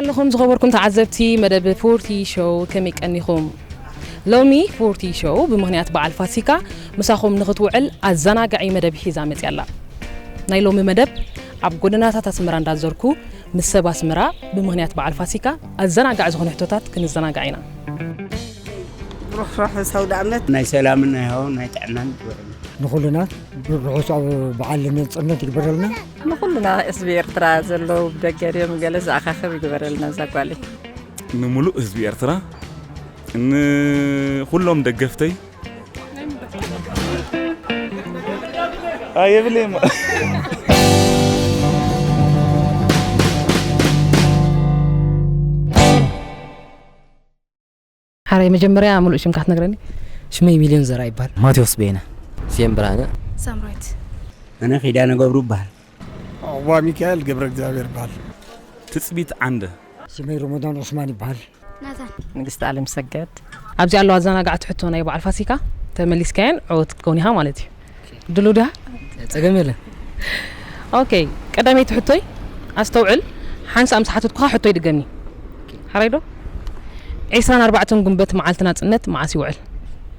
ኣለኹም ዝኸበርኩም ተዓዘብቲ መደብ ፎርቲ ሾው ከመይ ቀኒኹም ሎሚ ፎርቲ ሾው ብምኽንያት በዓል ፋሲካ ምሳኹም ንኽትውዕል ኣዘናጋዒ መደብ ሒዛ መፅያ ኣላ ናይ ሎሚ መደብ ኣብ ጎደናታት ኣስመራ እንዳዘርኩ ምስ ሰብ ኣስመራ ብምኽንያት በዓል ፋሲካ ኣዘናጋዒ ዝኾነ ሕቶታት ክንዘናጋዕ ኢና። ብሩኽ ርሑስ ኣውደኣመት። ናይ ሰላምን ናይ ሃዋን ናይ ጥዕናን ይግበረልና። ንኹልና ብርሑስ በዓል ነጽነት ይግበረልና። ንኹልና ህዝቢ ኤርትራ ዘለዉ ብደገ ድዮም ገለ ዝኣኻኽብ ይግበረልና እዛ ጓለይ። ንምሉእ ህዝቢ ኤርትራ ንኹሎም ደገፍተይ የብለይማ ሓረይ መጀመርያ ሙሉእ ሽምካ ትነግረኒ ሽመይ ሚልዮን ዘራ ይበሃል ማቴዎስ ቤነ ስየም ብርሃነ ሳምራዊት ኣነ ኪዳነ ገብሩ ይበሃል ዑቕባሚካኤል ገብረእግዚኣብሄር ይበሃል። ትጽቢት ዓንደ። ስመይ ሮሞዳን ዑስማን ይበሃል። ናዛን። ንግስቲ ኣለምሰገድ። ኣብዚ ኣሎ ኣዘናጋዕቲ ሕቶ ናይ በዓል ፋሲካ ተመሊስካየን ዕውት ክትከውን ኢኻ ማለት እዩ ድሉ ድያ ጸገም የለን ኦኬ ቀዳመይቲ ሕቶይ ኣስተውዕል ሓንሳእ ምስ ሓተትኩኻ ሕቶ ይድገም እዩ ሓራይ ዶ ዒስራን ኣርባዕተን ጉንበት መዓልቲ ናጽነት መዓስ ይውዕል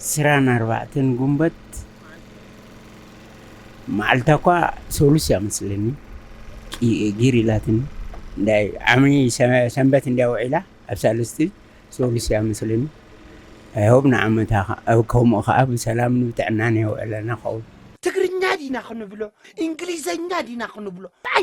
ዕስራን ኣርባዕተን ጉንበት መዓልታ እኳ ሰሉስ እያ መስለኒ ጊር ኢላትኒ እንዳይ ዓሚ ሰንበት እንዲያ ውዒላ ኣብ ሳልስቲ ሰሉስ እያ መስለኒ ኣይሆብ ንዓመታ ከምኡ ከዓ ብሰላምን ብጥዕናን የውዕለና ኸውን ትግርኛ ዲና ክንብሎ እንግሊዘኛ ዲና ክንብሎ ታይ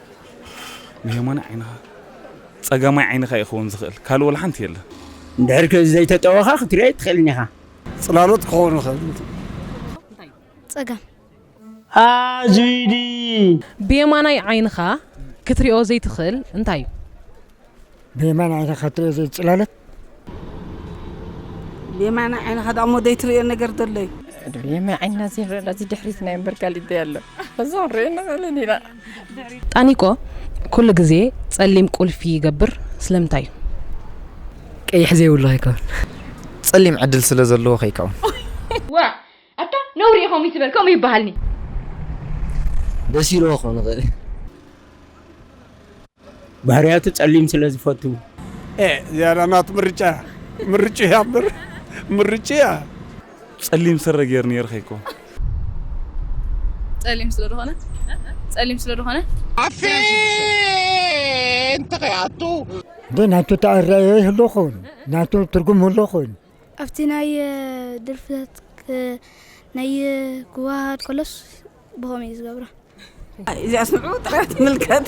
ንየማናይ ዓይንኻ ጸጋማይ ዓይንኻ እዩ ክኸውን ዝኽእል፣ ካልእ ወላ ሓንቲ የለን። እንድሕር ከዚ ዘይተጠወኻ ክትሪኦ ኣይትኽእልን ኢኻ። ጽላሎት ክኾኑ ይኽእል እቲ። ጸጋም። ኣዙይዲ። ብየማናይ ዓይንኻ ክትሪኦ ዘይትኽእል እንታይ እዩ? ብየማናይ ዓይንኻ ክትሪኦ ዘይትጽላሎት። ብየማን ዓይንኻ ደኣ እሞ ዘይትርእዮ ነገር ዘሎ እዩ ብየማን ዓይንና ዘይንረዳ እዚ ድሕሪትና እምበር ካሊእ እንታይ ኣሎ እዛ ክንሪኦ ንኽእልን ኢና ጣኒቆ ኩሉ ግዜ ጸሊም ቁልፊ ይገብር ስለምንታይ እዩ ቀይሕ ዘይብሉ ከይከውን ጸሊም ዕድል ስለ ዘለዎ ከይከውን ዋእ ኣታ ነውሪ እዩ ከምኡ ይትበል ከምኡ ይባሃልኒ። ደስ ኢልዎ ክኮን ይክእል ባህርያቱ ጸሊም ስለ ዝፈቱ። ኤእ ዝያዳ ናቱ ምርጫ እያ ምርጭኡ እያ እምበር ምርጭኡ እያ። ጸሊም ስረ ጌር ኔር ከይኮን። ጸሊም ስለ ድኮነ ጸሊም ስለ ድኮነ። ኣፌን ተኸይ ኣቱ። እንተ ናቱ ተኣረኣእያ ይህሉ ይኸውን ናቱ ትርጉም ይህሉ ይኸውን። ኣብቲ ናይ ድርፍታት ናይ ክዋሃድ ከሎስ ብኸም እዩ ዝገብሮ እዚኣስ ንዑ ጥራያ ትምልከት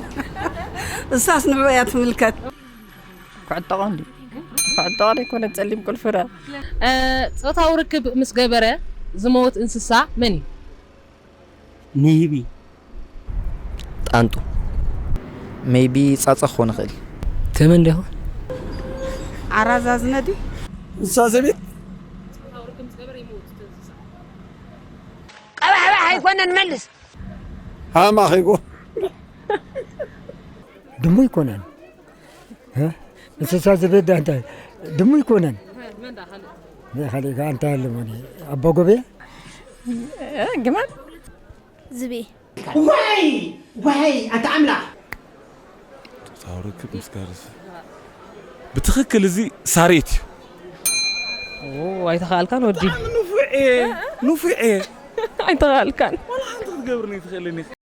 እሳስ ንዑ እያ ትምልከት ኩዕቶ ቀንዲ ኩዕቶ ዘይኮነ ጸሊም ቁልፍረ ጾታዊ ርክብ ምስ ገበረ ዝመውት እንስሳ መን እዩ? ሜይቢ ጣንጡ ሜይቢ ጻጸ ክኾን ይኽእል። ተመን ዶ ይኾን? ዓራት ዛዝነ ድዩ? ንሳ ዘቤት ቀባሕባሕ ኣይኮነን መልስ። ሃም ኣኺጉ። ድሙ ኣይኮነን። እንስሳ ዘቤት ዳ እንታይ ድሙ ይኮነን ካልእ ከዓ እንታይ ኣለሞ ኣባ ጎቤ ግመል ዝቤ ዋይ ዋይ ኣታ ኣምላኽ ፆታዊ ርክብ ምስ ጋርዚ ብትኽክል እዚ ሳሬት እዩ ኣይተኸኣልካን ወዲ ንፉዕ እየ ንፉዕ እየ ኣይተኸኣልካን ክትገብርኒ ትኽእልን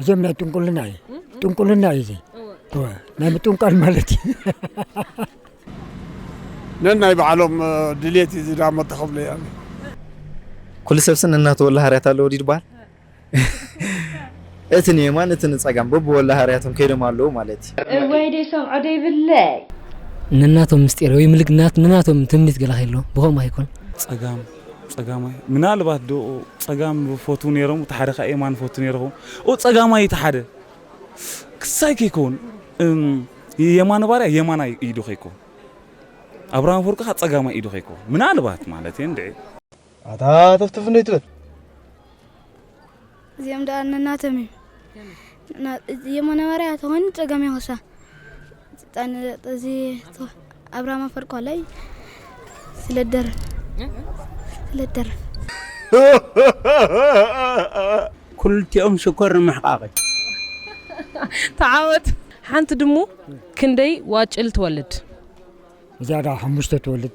እዚኦም ናይ ጥንቁልና እዩ ጥንቁልና እዩ እዚ ናይ ምጥንቋል ማለት እዩ ነናይ ባዕሎም ድሌት እዩ ዝዳሞ ተኸብለ እያ ኩሉ ሰብሲ ነናተወላ ሃርያት ኣለዎ ድዩ ድበሃል እቲ ንየማን እቲ ንፀጋም በብወላ ሃርያቶም ከይዶም ኣለዉ ማለት እዩ እወይ ደይ ሰምዖ ደይብለይ ነናቶም ምስጢር ወይ ምልክ ናት ንናቶም ትምኒት ገለ ከሎ ብኸምኡ ኣይኮን ጸጋም ጸጋማይ ምናልባት ዶ ጸጋም ይፈትዉ ነይሮም እቲ ሓደ ከኣ የማን ይፈቱ ነይሩ ይኸውን ኦ ጸጋማይ እቲ ሓደ ክሳይ ከይከውን የማነ ባርያ የማናይ ኢዱ ከይከውን ኣብርሃም ኣፈወርቂ ከኣ ጸጋማይ ኢዱ ከይከውን ምናልባት ማለት እየ እንድዒ ኣታ ተፍትፍ እንዶ ኣይትበል እዚኦም ደኣ ነናቶም እዮም የመነበርያ ተኾን ጸገም ይኸሳ እዚ ኣብራማ ፈርቋ ላይ ስለደር ስለደር ኩልቲኦም ሽኮር ንምሕቃቂ ተዓወት ሓንቲ ድሙ ክንደይ ዋጭል ትወልድ እዚኣ ደኣ ሓሙሽተ ትወልድ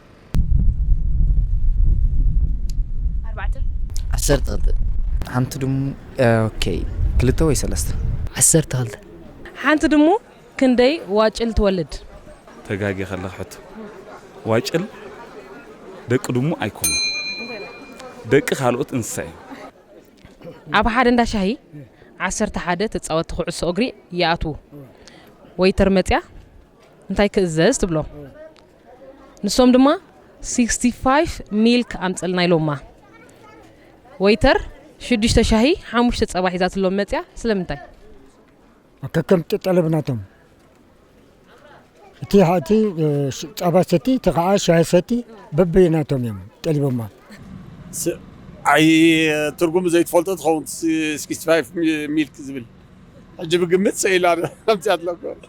ኣርባዕተ። ዓሰርተ ክልተ። ሓንቲ ድሙ ኦኬ ክልተ ወይ ሰለስተ። ዓሰርተ ክልተ። ሓንቲ ድሙ ክንደይ ዋጭል ትወልድ? ተጋጊኻ ኣለኻ ሕቶ ዋጭል ደቂ ድሙ ኣይኮኑን ደቂ ካልኦት እንስሳ እዮም። ኣብ ሓደ እንዳ ሻሂ ዓሰርተ ሓደ ተጻወቲ ኩዕሶ እግሪ ይኣትዉ። ወይተር መጺኣ እንታይ ክእዘዝ ትብሎ? ንሶም ድማ ሲክስቲ ፋይፍ ሚልክ ኣምጽልና ኢሎማ። ወይተር ሽዱሽተ ሻሂ ሓሙሽተ ጸባ ሒዛትሎም መጽያ ስለምንታይ? ከከም ጠለብ ናቶም እቲ እቲ ጸባ ሰቲ እቲ ከዓ ሻሂ ሰቲ በበይ ናቶም እዮም ጠሊቦማ። ኣይ ትርጉሙ ዘይትፈልጦ ትኸውን ሲክስቲ ፋይፍ ሚልክ ዝብል ሕጂ ብግምት ሰኢላ ኣምጺኣትሎም።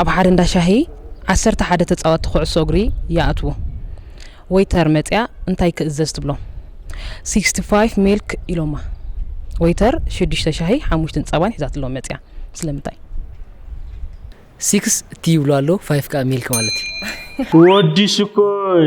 ኣብ ሓደ እንዳ ሻሂ ዓሰርተ ሓደ ተጻወትቲ ኩዕሶ እግሪ ይኣትዉ። ወይተር መጺኣ እንታይ ክእዘዝ ትብሎ። ሲክስቲ ፋይፍ ሚልክ ኢሎማ። ወይተር ሽዱሽተ ሻሂ ሓሙሽትን ጸባን ሒዛትሎም መጺኣ። ስለምንታይ? ሲክስ ቲ ይብሉ ኣለዉ ፋይፍ ከኣ ሚልክ ማለት እዩ። ወዲ ሽኮይ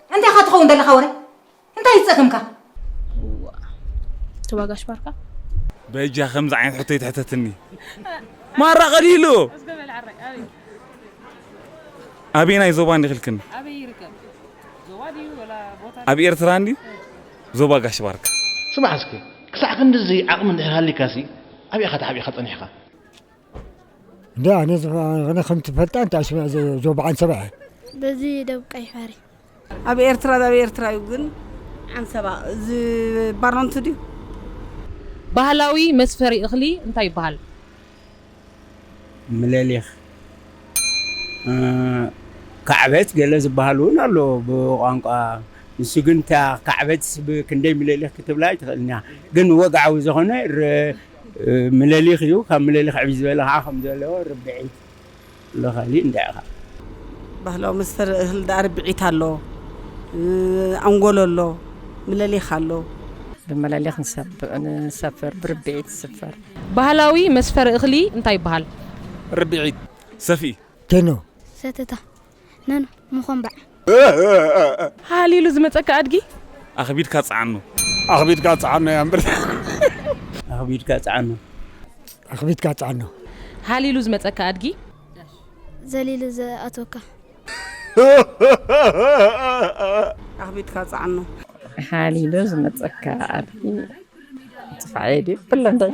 እንታይ ኢኻ ትኸውን ዘለኻ ወረ እንታይ እዩ ጸገምካ? እዋ ጋሽ ባርካ በጃ ከምዚ ዓይነት ሕቶ ይትሕተትኒ ማራ ቀሊሉ ኣበየናይ ዞባ እንዲ ክልክን ኣብ ኤርትራ እንዲ ዞባ ጋሽ ባርካ ስማዕ እስኪ ክሳዕ ክንድዚ ዓቕሚ እንድሕር ሃሊካሲ ኣብይ ኢኻ ተሓቢእካ ጸኒሕካ እንዳ ኣነ ዝነ ከም ትፈልጣ እንታይ ሽመ ዞ በዓን ሰባ በዚ ደብ ቀይ ሓሪ ኣብ ኤርትራ ዛብ ኤርትራ እዩ ግን ዓንሰባ ዝባሮንቱ ድዩ ባህላዊ መስፈሪ እኽሊ እንታይ ይበሃል? ምለሊኽ ካዕበት ገለ ዝበሃል እውን ኣሎ ብቋንቋ ንሱ ግን እታ ካዕበት ክንደይ ምለሊኽ ክትብላ ኣይትኽእልን እያ ግን ወግዓዊ ዝኾነ ምለሊኽ እዩ ካብ ምለሊኽ ዕብይ ዝበለ ኸዓ ከም ዘለዎ ርብዒት ኣሎ ካሊእ እንታይ ኢኻ። ባህላዊ መስተ እህል ዳኣ ርብዒት ኣሎ ኣንጎሎ ኣሎ ምለሊኽ ኣሎ። ብምለሊኽ ንሰፍር ብርብዒት ዝስፈር። ባህላዊ መስፈሪ እኽሊ እንታይ ይባሃል። ርብዒት ሰፍኢ። ቴኖ። ሰተታ። ነን ምኾምባዕ ሃሃሃ ኢሉ ዝመጸካ ኣድጊ ኣኽቢድካ ጽዓኖ ኣኽቢድካ ጽዓኖ እያ እምበር ኣኽቢድካ ጽዓኖ ኣኽቢድካ ጽዓኖ ሃሊ ኢሉ ዝመጸካ ኣድጊ ዘሊሉ ዝኣትወካ ኣኽቢድካ ጽዓኖ ሃሊ ኢሉ ዝመጸካ ኣድጊ ጥፋዕ የድዩ ብሎ እንታይ